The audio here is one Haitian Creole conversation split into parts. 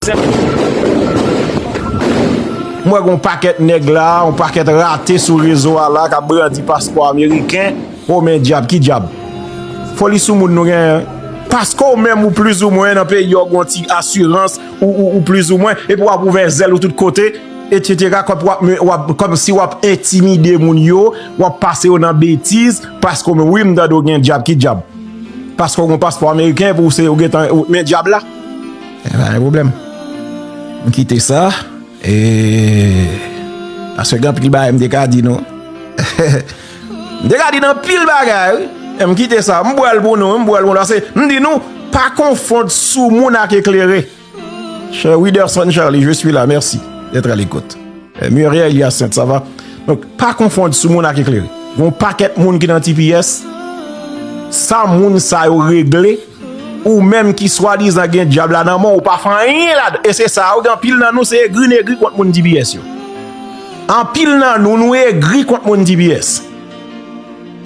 M wè gen yon pakèt nèg la, yon pakèt rate sou rezo a la k ap brandi paspò ameriken. O men dyab, ki dyab? Foli sou moun nou genyen. Paske ou menm ou plizoumwen nan peyi yo gen yon ti asirans ou plizoumwen epi w ap ouvè zèl ou tout kote etsetera kòmsi w ap entimide moun yo, w ap pase yo nan betiz paske ou menm. Wi m tande ou gen dyab, ki dyab? Paske ou gen yon paspò ameriken epi ou se ou gentan men dyab la. E pa gen problem. M kite sa. E. Paske gen anpil bagay m te ka di nou. M te ka di nou anpil bagay wi. E m kite sa. M bwèl pou nou. M bwèl pou nou. Ase m di nou. Pa konfond sou moun ak eklere. Cher Widerson Charly, je suis la. Merci. D'être à l'écoute. E Muriel Hyacinthe, ça va? Donc, pa konfond sou moun ak eklere. Gon pakèt moun ki nan tps. Sa moun sa yo regle. Ou menm ki swadizan gen dyab la nan men w ou pa fè anyen ladan e se sa a wi anpil nan nou se egri n egri kont moun tbs yo anpil nan nou nou egri kont moun tbs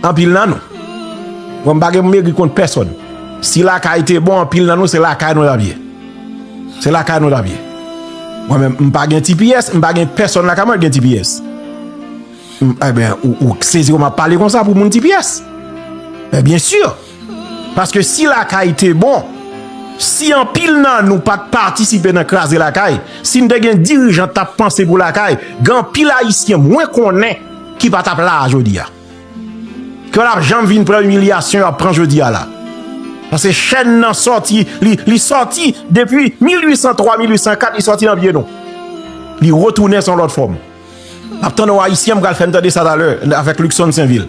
anpil nan nou mwen m pa gen pou m egri kont pèsòn si lakay te bon anpil nan nou se lakay nou t ap ye se lakay nou t ap ye mwen menm m pa gen tbs m pa gen pèsòn lakay mwen ki gen tbs m a ben ou sezi kòman m ap pale konsa pou moun tbs byen si. Paske si lakay te bon, si anpil nan nou pat patisipe nan kraze lakay, si n te gen dirijan k tap panse pou lakay, gen anpil ayisyen mwen konnen ki pa tap la a jodi a. Ki pa tap janm vin pran imilyasyon y ap pran jodi a la. Paske chèn nan sòti, li sòti depi 1803, 1804, li sòti nan pye nou. Li retounen san lòt fòm. Map tann ou ayisyen pral fèm tande sa talè avèk Luckson Sainvil.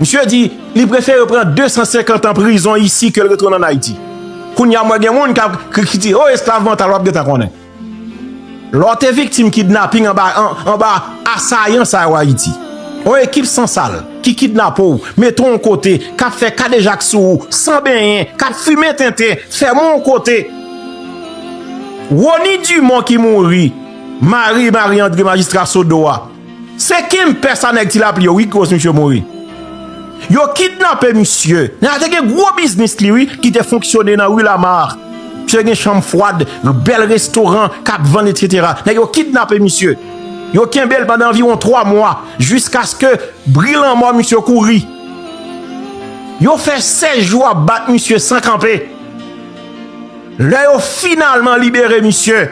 Misye di li prefere pran 250 an prizon isi ke l retounen an Ayiti. Kounya mwen gen moun kap ki di oh esklav mantal wap gentan konnen. Lè w te viktim kidnaping anba anba asayan sa yo Ayiti. Yon ekip san sal ki kidnape w, mete w yon kote, kap fè kadejak sou ou san benyen, kap fimen tenten, fèmen yon kote. Rony Dumont ki mouri. Mari Marie André majistra Sodo a se kim pè sa nèg ti lapli yo wi ki koz misye mouri yo kidnape misye nan a te gen gwo biznis li wi ki te fonksyone nan rue Lamarre misye te gen chanm fwad yon bèl restoran kap vann etc nèg yo kidnape misye yo kenbel pandan anviwon 3 mwa jiskaske bri lanmò misye kouri yo fè 16 jou ap bat misye san kanpe. Lè yo finalman libere misye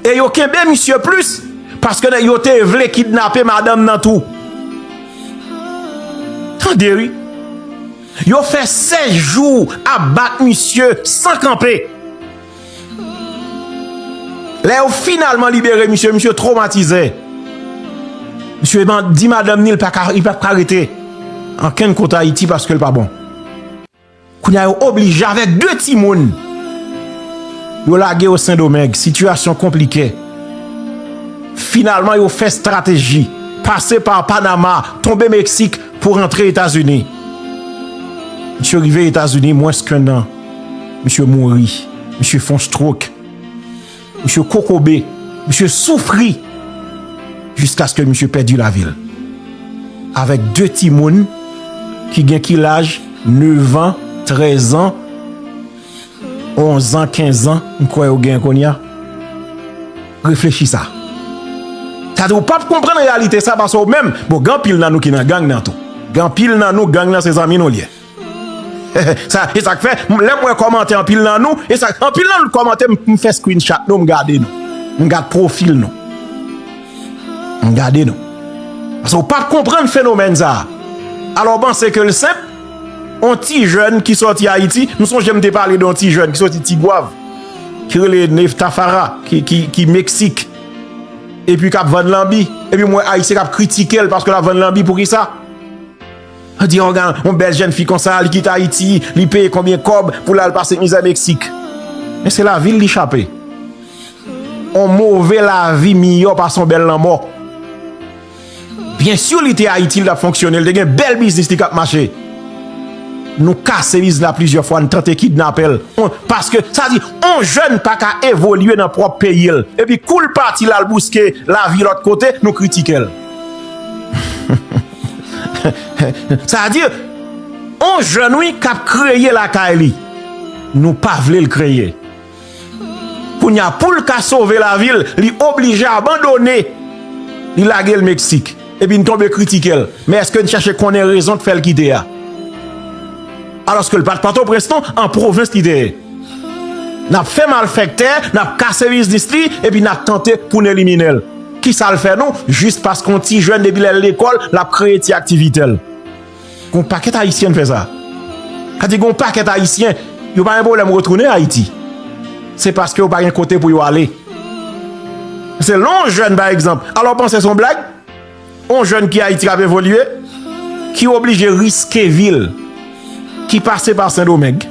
e yo kenbe misye plis paske nèg yo te vle kidnape madanm nan tou. Tande wi. Yo fè 16 jou ap bat misye san kanpe. Lè yo finalman libere misye, misye tromatize. Misye di madanm ni li pa ka rete ankenn kote Ayiti paske li pa bon. Kounya yo oblije avèk 2 timoun yo lage yo sendomeng, sitiyasyon konplike. Finalman yo fè strateji, pase pa Panama, tonbe Meksik pou rantre Etazini. Misye rive Etazini mwens ke nan, misye mouri, misye fon strok. Misye kokobe, misye soufri jiskaske misye pèdi lavi l avèk 2 timoun ki gen ki laj nevan, trèzan, onzan, kenzan m kwè yo gen kounye a. Reflechi sa. Sa di ou pap konprann reyalite sa paske ou menm, bon gen anpil nan nou ki nan gang nan tou. Gen anpil nan nou gang nan se zanmi nou l ye. Hehe esak fè lèm wè kòmantè anpil nan nou esak anpil nan nou t kòmante m fè screen chat nou m gade nou m gad profil nou m gade nou pase w pap konprann fenomèn sa alò w panse ke l senp on ti jèn ki sòti ayiti m sonje m te pale don ti jèn ki sòti tigwav ki rele neftafara ki meksik epi kap vann lanbi epi m wè ayisyen kap kritike l paske lap vann lanbi poukisa. An di yon gan, yon bèl jèn fi konsa, li kite Ayiti, li peye konbyen kòb pou l al pase mizè Meksik. Men se lavi l li chape. Yon move lavi miyò pase yon bèl lanmò. Byen si li te Ayiti, li t ap fonksyone, li te gen bèl biznis li k ap mache. Nou kase biznis la plizyè fwa, nou tante kidnape l. Paske, sa di, yon jèn pa ka evolye nan pwòp peyi l. Epi kou l pati l al bouske lavi lòt kote, nou kritike l. Sa di, on jèn wi k ap kreye lakay li, nou pa vle l kreye. Kounye a, pou l ka sove lavi l, li oblije abandone, li lage l Meksik. Epi n tonbe kritike l. Men èske n chèche konnen rezon k fè l kite a? Alòske l pa t Pòtoprens non, an pwovens li te ye. N ap fè malfèktè, n ap kase biznis li epi n ap tante pou n elimine l. Ki sa l fè nou? Jis paske yon ti jèn depi lè l lekòl, l ap kreye ti aktivite l. Gen yon pakèt Ayisyen k fè sa. Sa di gen yon pakèt Ayisyen, yo pa gen pwoblèm retounen Ayiti. Se paske yo pa gen kote pou yo ale. Se lè yon jèn pa egzanp, alò w panse se yon blag? On jèn ki Ayiti ap evolye, ki oblije riske vi l, ki pase pa Sendomeng,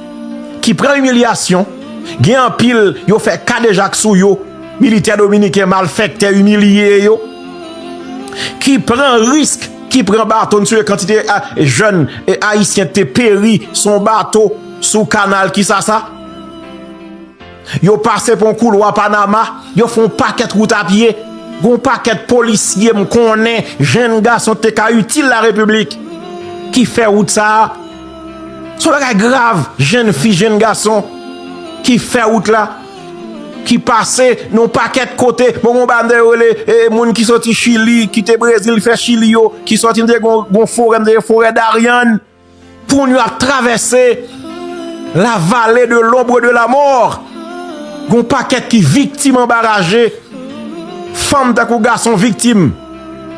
ki pran imilyasyon, gen anpil yo fè kadejak sou yo, militè dominiken malfèktè imilye yo, ki pran risk, ki pran bato, n sonje kantite jèn Ayisyen k te peri sou on bato sou kanal Kisasa. Yo pase pon koulwa Panama, yo fè yon pakèt wout a pye. Gen yon pakèt polisye m konnen, jenn gason ki te ka itil Larepiblik, ki fè wout sa a. Se yon bagay grav, jenn fi, jenn gason ki fè wout la, ki pase nan yon pakèt kote. Bon, gen yon banda yo rele moun ki soti Chili, kite Brezil fè Chili yo, ki soti, m te gen yon forè, m te rele forè Darién. Moun yo ap travèse la vale de lombre de la mort. Gon pakèt ki viktim anba raje. Fanm tankou gason viktim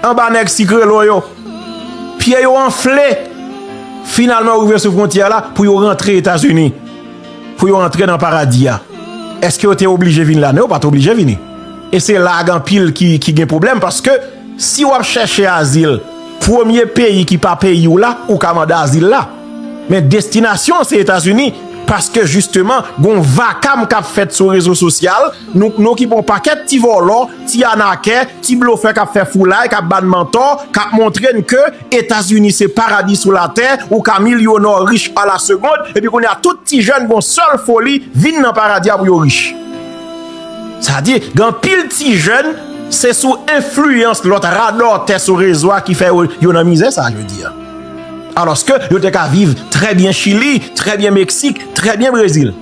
anba nèg sikrelo yo. Pye yo anfle. Finalman yo rive sou fwontyè la pou yo rantre Etazini. Pou yo antre nan paradi a. Eske yo te oblije vin la? Non yo pat oblije vini. E se la a gen anpil ki gen pwoblèm paske si wap chèche azil. Premye peyi ki pa peyi w la ou ka mande azil la. Men destinasyon an se Etazini paske jisteman gon vakam kap fèt sou rezo sosyal nou nou ki bon pakèt ti vòlò, ti anakè, ti blofè kap fè foulay kap bann mantò kap montre n ke Etazini se paradi sou latè ou ka milyonò rich a la segond epi kounye a tout ti jèn gon sèl foli vin nan paradi a pou yo rich. Sa di, gen anpil ti jèn, se sou enfliyans lòt radòtè sou rezo a ki fè yo nan mizè sa jodi a. Alòske, yo te ka viv trè byen Chili, trè byen Meksik, trè byen Brezil.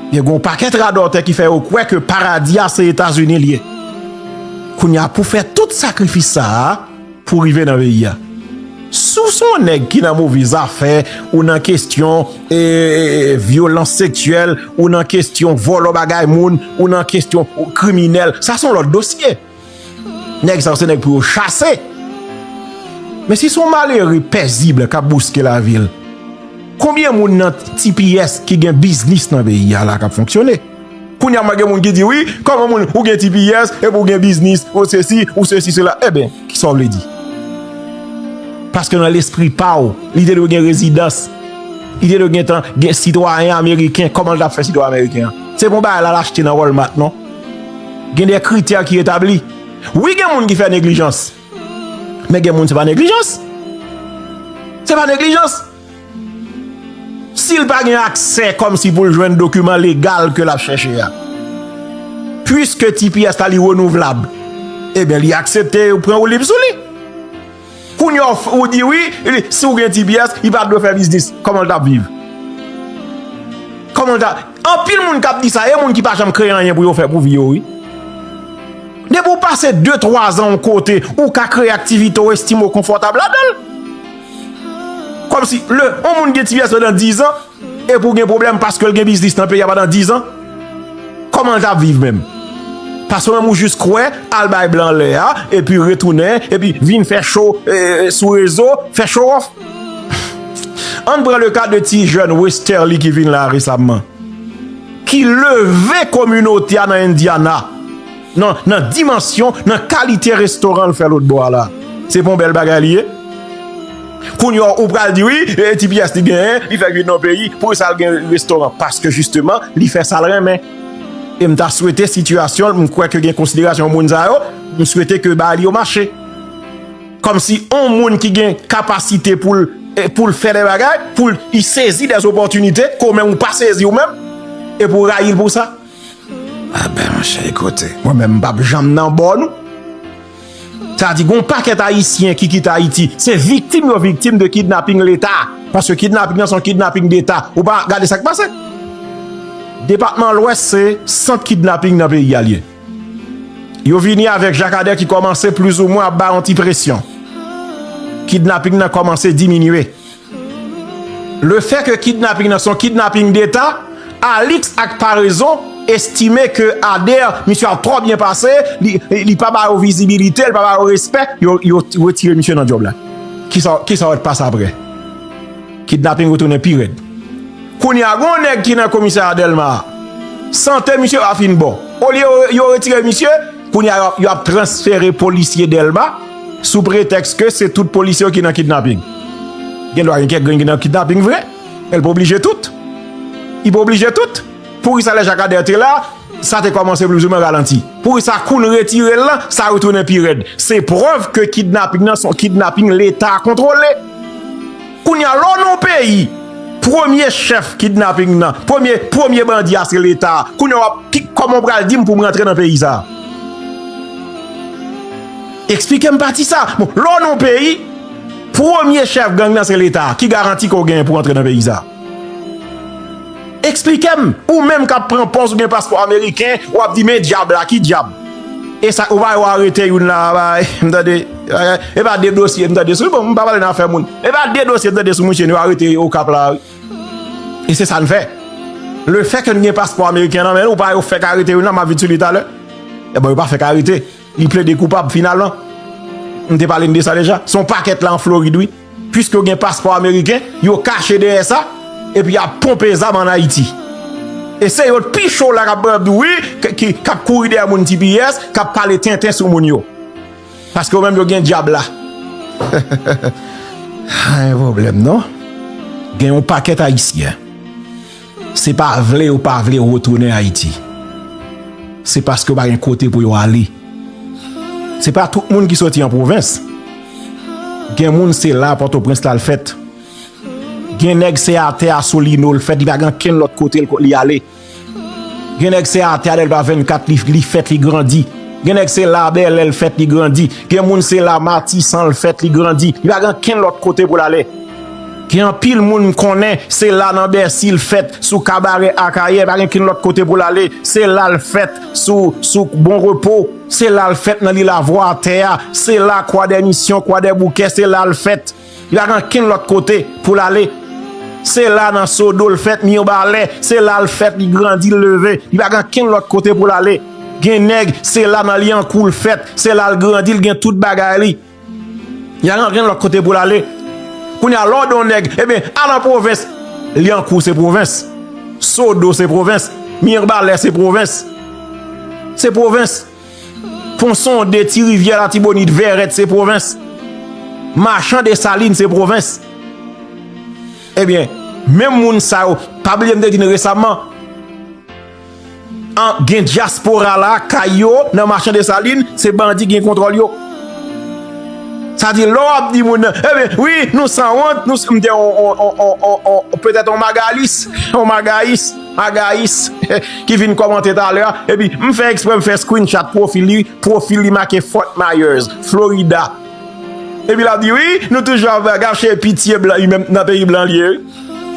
Gen yon pakèt radòtè ki fè yo kwè ke paradi a se Etazini li ye. Kounye a pou fè tout sakrifis sa a. Pou rive nan peyi a. Si w se yon nèg ki nan move zafè, ou nan kestyon vyolans seksyèl, ou nan kestyon vòlò bagay moun, ou nan kestyon kriminèl, sa son lòt dosye. Nèg sa yo se nèg pou yo chase. Men si son malere pèzib kap bouske la vil, konbyen moun nan tps ki gen biznis nan peyi a la kap fonksyone? Kounya mwen gen moun ki di wi, kòman moun ou gen tps epi ou gen biznis ou sesi ou sesi sela eben kisa w vle di? Paske nan lespri pa w li te dwe gen rezidans, li te dwe gentan gen sitwayen ameriken, kòman l ta fè sitwayen ameriken an? Se pa yon bagay l al achte nan Walmart non. Gen de kritè ki etabli. Wi gen moun ki fè neglijans, men gen moun se pa neglijans. Se pa neglijans. Si l pa gen aksè kòm si pou l jwenn dokiman legal ke l ap chèche a. Puiske tps la li renouvlab, eben li aksepte yo pran woulib sou li. Kounye a ou di wi, si ou gen tps, li pa dwe fè biznis. Kòman l t ap viv? Kòman l t ap? Anpil moun k ap di sa, e moun ki pa janm kreye anyen pou yo fè pou vi yo wi. Depi ou pase 2, 3 zan yon kote, ou ka kreye aktivite ou estime ou konfòtab ladan l. Kòm si lè yon moun gen ti pyès pandan 10 an, epi ou gen pwoblèm paske l gen biznis nan peyi a pandan 10 an, kòman l t ap viv menm? Paske ou menm ou jis kwè al bay blan lè a, epi retounen, epi vin fè cho sou rezo, fè chowòf. An n pran le ka de ti jèn Westerlie ki vin la resamman, ki leve kominote a nan Indiana. nan dimansyon, nan kalite restoran l fè lotbò a la. Se pa yon bèl bagay li ye? Kounye a ou pral di wi, e ti pyès li genyen, li fèk vin nan yon peyi, poukisa l gen restoran? Paske jisteman, li fè sa l renmen. E m ta swete sitiyasyon l, m kwè ke gen konsiderasyon moun sa yo, m swete ke bagay li yo mache. Kòmsi yon moun ki gen kapasite pou l, pou l fè de bagay, pou l sezi de zopòtinite, ke ou menm ou pa sezi ou menm, epi ou rayi l pou sa? Apè mwen chè e kote. Mwen menm m pap janm nan bò nou. Sa di gon pakèt ayisyen ki kite ayiti se viktim yo viktim de kidnaping leta. Paske kidnaping nan se yon kidnaping deta. Ou pa gade sak pase. Depatman lwès se sant kidnaping nan peyi a li ye. Yo vini avèk jakadè ki kòmanse plizoumwen ap bay yon ti presyon. Kidnaping nan kòmanse diminye. Le fè ke kidnaping nan se yon kidnaping deta, Alix ak Paraison estime ke Ader misye ap twò byen pase, li pa ba yo vizibilite, li pa ba yo respè, yo retire misye nan djòb la. Kisa wè t pase aprè? Kidnaping retounen pi rèd. Kounye a gen yon nèg ki nan komisarya Dèlma a, sante misye pa fin bon. Olye yo retire misye, kounye a yo ap transfere polisye Dèlma. Sou pretèks ke se tout polisye yo ki nan kidnaping. Gen dwa gen kèk grenn ki nan kidnaping vre, men li pa oblije tout. Li pa oblije tout. Poukisa lè Jakadè te la, sa te kòmanse plizoumwen ralanti? Poukisa kou nou retire l lan, sa retounen pi rèd? Se prèv ke kidnaping nan se yon kidnaping Leta kontwole. Kounye a, lè w nan yon peyi, premye chèf kidnaping nan, premye, premye bandi a se Leta. Kounye a w ap, ki, kòman w pral di m pou m rantre nan peyi sa a? Eksplike m pati sa. Bon, lè w nan yon peyi, premye chèf gang nan se leta. Ki garanti ke w genyen pou w antre nan peyi sa? Eksplike m, ou menm k ap pran pòz ou gen paspò ameriken, w ap di men dyab la, ki dyab? E sa, ou pa wè yo arete youn la a, m tande, e pa de dosye m tande sou, bon, m pa pale nan afè moun. E pa de dosye m tande sou mouche nou arete Okap la a wi. E se sa n fè. Le fè ke n gen paspò ameriken nan men nou, ou pa wè yo fèk arete youn la, m ap vin sou li talè. E bon, yo pa fèk arete. Li plede koupab finalman. M te pale n de sa deja. Se yon pakèt la an Florid wi. Piske yo gen paspò ameriken, yo kache dèyè sa, epi y ap ponpe zam an Ayiti. E se yo t pi cho la k ap di w wi, k ap kouri dèyè moun tps, k ap pale tenten sou moun yo. Paske yo menm yo gen dyab la. Heheheh. Pa gen pwoblèm non. Gen yon pakèt Ayisyen. Se pa vle yo pa vle retounen Ayiti. Se paske yo pa gen kote pou yo ale. Se pa tout moun ki soti an pwovens. Gen moun se la Pòtoprens la l fèt. Gen nèg se atè a Solino l fèt li pa gen ankenn lòt kote li ale. Gen nèg se atè a Dèlma 24 li fèt li grandi. Gen nèg se la Bèlè l fèt li grandi. Gen moun se la Matisan l fèt li grandi. Li pa gen ankenn lòt kote pou l ale. Gen anpil moun m konnen, se la nan Bèsi l fèt, sou kabarè Akayè, pa gen ken lòt kote pou l ale, se la l fèt, sou Bon Repo, se la l fèt nan li lavwa atè a, se la Kwadèmisyon, Kwadèboukè, se la l fèt, li pa gen ken lòt kote pou l ale, se la nan Sodo l fèt, Mirbalè, se la l fèt, li grandi, li leve, li pa gen ken lòt kote pou l ale. Gen nèg, se la nan Lyankou l fèt, se la l grandi, li gen tout bagay li. Yaran gen lòt kote pou l ale. Kounye a, lè w di yon nèg, ebyen, al an pwovens, Lyankou se pwovens, Sodo se pwovens, Mirbalè se pwovens. Se pwovens. Ponsonde, Ti Rivyè, Latibonit, Vèrèt se pwovens. Machan Desalin se pwovens. Ebyen, menm moun sa yo, pa bliye m te di n resaman, Gen dyaspora la kay yo nan machan desalin se bandi gen kontrol yo sa di lò ap di moun nan wi nou san wont nou san mte on petèt on magalis on magayis magayis ki vin kòmante talè a epi m fè eksprèm fè screen chat profil li profil li make fort myers florida epi lap di wi nou toujou ap gache pitye blan nan peyi blan liye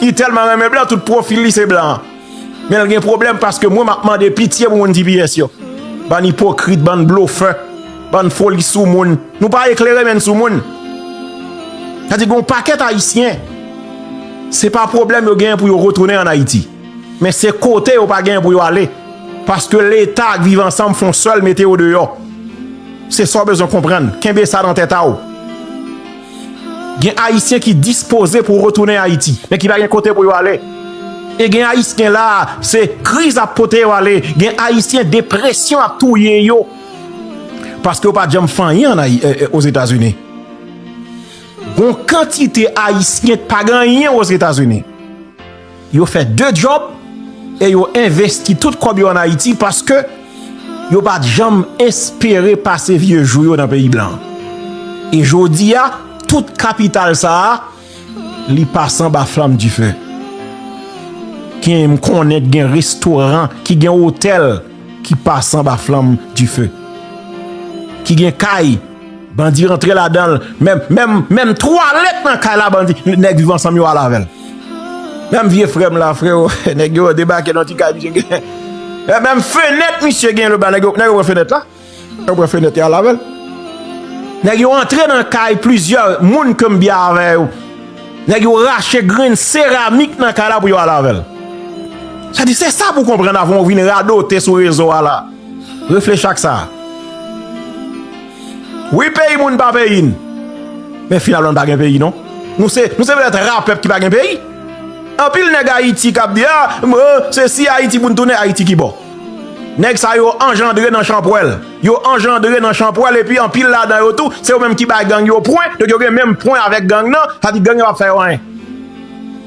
li tèlman renmen blan tout profil li se blan. Menl gen problem paske mwen map mande pitye pou moun tps yo. Bann ipokrit, bann blofè, bann foli sou moun. Nou pa eklere menn sou moun. Sa di gon paket ayisyen. Se pa problem yo gen pou yo retounen an ayiti. Men se kote yo pa gen pou yo ale. Paske leta ak viv ansanm fon sel mete yo deyo. Se sa w bezwen konprann. Kenbe sa nan tete a w. Gen Ayisyen ki dispoze pou retounen Ayiti, men ki pa gen kote pou yo ale. E gen Ayisyen la a, se kriz ap pote yo ale. Gen Ayisyen depresyon ap touye yo, paske yo pa janm fè anyen Ozetazini. Gon kantite Ayisyen ki pa gen anyen Ozetazini. Yo fè 2 djòb e yo envesti tout kòb yo an Ayiti paske yo pa t janm espere pase vye jou yo nan peyi blan. E jodi a, tout kapital sa a, li pase anba flanm dife. Gen, m konnen ki gen restoran, ki gen otèl ki pase anba flanm dife. Ki gen kay. Bandi rantre ladanl menm menm menm twalet nan kay la bandi nèg viv ansanm yo al avèl menm vye frèm la freo nèg yo debake nan ti kay misye gen menm fenèt misye gen louba nèg yo nèg yo pran fenèt la nèg yo pran fenèt yo al avèl nèg yo antre nan kay plizyè moun ke m byen avè yo nèg yo rache grenn seramik nan kay la pou yo al avèl sa di se sa pou konprann avan ou vin radote sou rezo a la. Reflechi ak sa. Wi peyi moun pa peyi n. Men finalman n pa gen peyi non. Nou se petèt ra pèp ki pa gen peyi. Anpil nèg Ayiti k ap di a, se si Ayiti pou n tounen, Ayiti ki bo. Nèg sa yo anjandre nan chanpwèl. Yo anjandre nan chanpwèl epi anpil ladan yo tou se yo menm ki bay gang yo pwen. Donk yo gen menm pwen avèk gang nan. Sa di gang yo pa p fè yo anyen.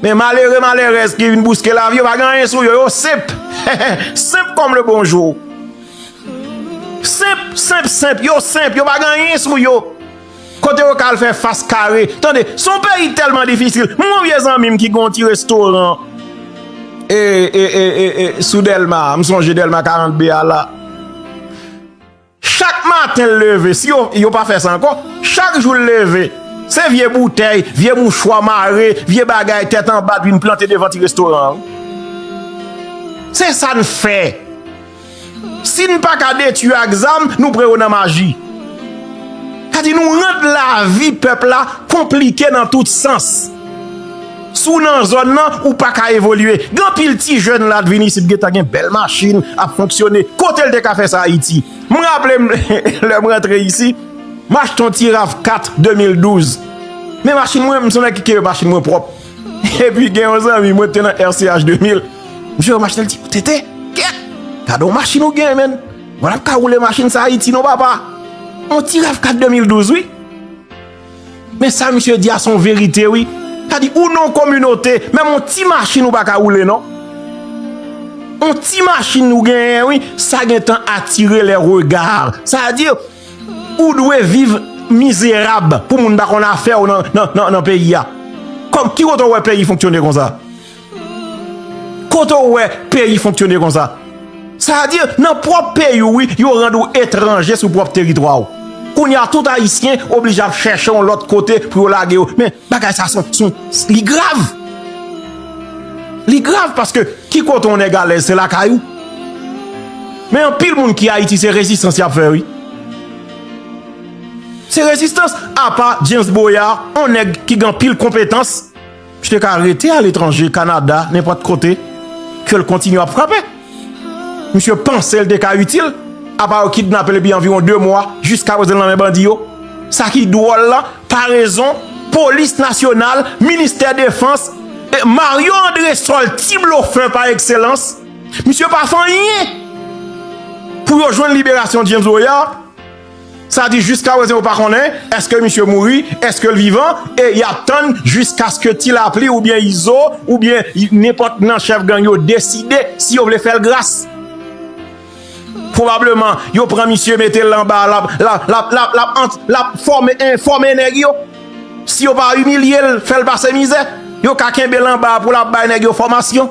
Men malere malerèz ki vin bouske lavi yo pa gen anyen sou yo, yo senp, senp kòm le bonjou. Senp, senp, senp, yo senp, yo pa gen anyen sou yo. Kote yo ka al fè fas kare, tande, son peyi tèlman difisil, m gon vye zanmi m ki gon ti restoran, e, e, e, e, e, sou Delma, m sonje Delma 42 a la. Chak maten l leve, si yo pa fè sa ankò, chak jou l leve, se vye boutèy, vye mouchwa mare, vye bagay tèt anba l vin plante devan ti restoran an. Se sa n fè. Si n pa ka detui yo ak zam, nou pran yo nan maji. Sa di nou rand lavi pèp la konplike nan tout sans. Si w nan zòn nan, ou pa ka evolye. Gen anpil ti jèn la, vin isit gentan gen bèl machin, ap fonksyone. Kote l te ka fè sa Ayiti? M raple m lè m rantre isi, m achte yon ti Rav 4 2012. Men machin mwen, m son nèg ki kenbe machin mwen pwòp. Epi gen yon zanmi mwen ki te nan RCH 2000, misye wè machin nan li di, TT, kèt! Gade yon machin ou gen menn. Mwen ap ka woule machin sa Ayiti non papa. Yon ti Rav 4 2012 wi. Men sa misye di a son verite wi. Sa di ou non kominote, menm yon ti machin ou pa ka woule non. Yon ti machin ou genyen wi, sa gen tan atire le regard. Sa di ou dwe viv mizerab pou moun pa konn afew nan peyi a. Ki kote ou we peyi fonksyone konsa? Kote ou wè peyi fonktyone konsa? Sa a di nan pwòp peyi ou wi yo rann ou etranje sou pwòp teritwa ou. Kounye a tout ayisyen oblije ap chèche yon lòt kote pou yo lage yo. Men bagay sa son son li grav. Li grav paske ki kote yon nèg alèz se lakay ou. Men anpil moun ki ayiti se rezistans y ap fè wi. Se rezistans apa James Boyar yon nèg ki gen anpil konpetans. Li te ka rete aletranje, Kanada, nenpòt kote, ke l kontinye ap frape. Misye panse li te ka itil, apa yo kidnape l epi anviwon 2 mwa, jiskaprezan li nan men bandi yo. Sa ki dwòl la, parezon, polis nasyonal, ministè defans, e Mario Andresol, ti blofè pa ekselans, misye pa fè anyen pou yo jwenn liberasyon James Boyard. Sa di jiska prezan yo pa konnen eske misye mouri, eske l vivan e y ap tann jiskaske Ti Lapli oubyen Izo oubyen nenpòt nan chèf gang yo deside si yo vle fè l gras. Pwobableman yo pran misye mete l anba l ap fòme nèg yo. Si yo pa imilye l, fè l pase mizè, yo ka kenbe l anba pou l ap bay nèg yo fòmasyon.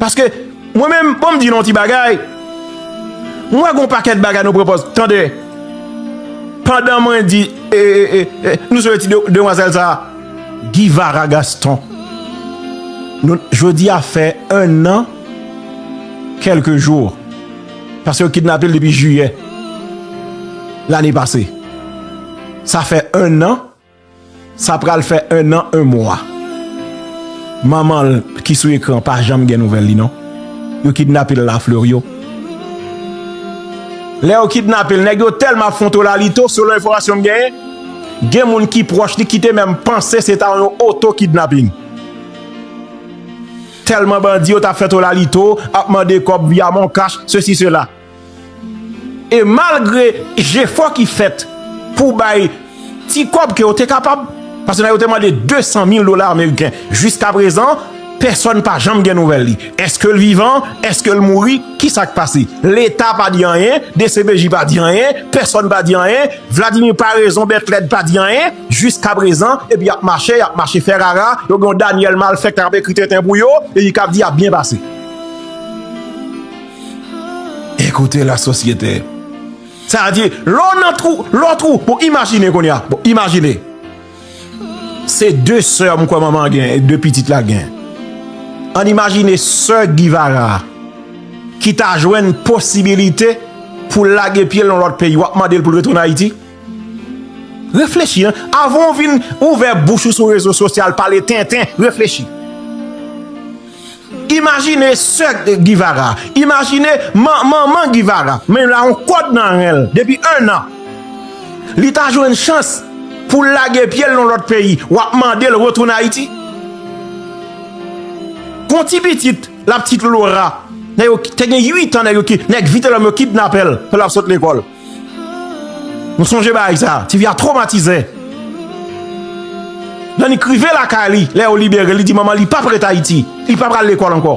Paske, mwen menm, bon m di non ti bagay, mwen wè gon pakèt bagay nou pwopòz, tande, pandan mwen di, e, e, e, e, nou sou e ti demwazèl sa, Givara Gaston, nou, jodi a fè 1 an, kèlke jou, paske yo kidnape l depi jiyè, lane pase, sa fè 1 an. Sa pral fè 1 an 1 mwa manman l ki sou ekran pa janm gen nouvèl li non yo kidnape l la Fleuriot lè yo kidnape l nèg yo tèlman ap fontol alito selon enfòmasyon m genyen gen moun ki pwòch li ki te menm panse se ta yon oto kidnaping tèlman bandi yo t ap fentol alito ap mande kòb via moncash sesi sela. E malgre jefò ki fèt pou bay ti kòb ke yo te kapab, paske nan yo te mande 200 mil dola ameriken, jiska prezan, pèsòn pa janm gen nouvèl li. Eske l vivan? Eske l mouri? Ki sa k pase? Leta pa di anyen, dcpj pa di anyen, pèsòn pa di anyen, Vladimir Paraison Bètlèd pa di anyen, jiska prezan, epi y ap mache, y ap mache fè rara, yo gen yon Daniel Malfect k ap ekri tenten pou yo, epi k ap di y ap byen pase. Ekoute la sosyete. Sa di, lè w nan twou, lè w twou, bon imajine kounye a, bon imajine. Se 2 sè m kwè manman an gen, 2 pitit la gen. Ann imajine sè Givara a ki ta jwenn posibilite pou l lage pye l yon lòt peyi, w ap mande l pou l retounen Ayiti? Reflechi an, avan ou vin ouvè bouch ou sou rezo sosyal pale tenten, reflechi. Imajine sè Givara, imajine manman Givara, men la yon kòd nan ren l depi 1 an. Li ta jwenn chans pou l lage pye l nan lòt peyi, w ap mande l retounen Ayiti? Gon ti pitit, lapitit Lora, te gen 8 an nèg Vitelòm yo kidnapè l pandan l ap sot lekòl. M sonje bagay sa, ti fi a tromatize. Nan li k rive lakay li, lè yo libere l, li di manman li pap ret Ayiti, li pap pral lekòl ankò.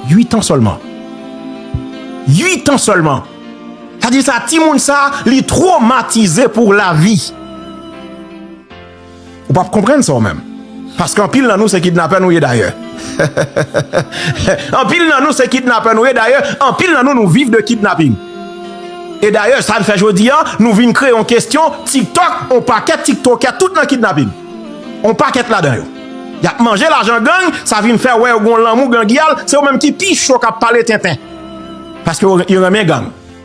Uitan sèlman. Uitan sèlman. Sa di sa, timoun sa, li tromatize pou lavi. Ou pap konprann sa ou menm. Paske anpil nan nou se kidnapè nou ye dayè. Anpil nan nou se kidnapè nou ye dayè, anpil nan nou nou viv de kidnaping. E dayè sa n fè jodi a, nou vin kreye yon kestyon tiktok, yon pakèt tiktokè tout nan kidnaping. Yon pakèt ladan yo. Yap manje lajan gang, sa vin fè wè yo gen yon lanmou gangyal, se yo menm ki pi cho kap pale tenten. Paske yo renmen gang.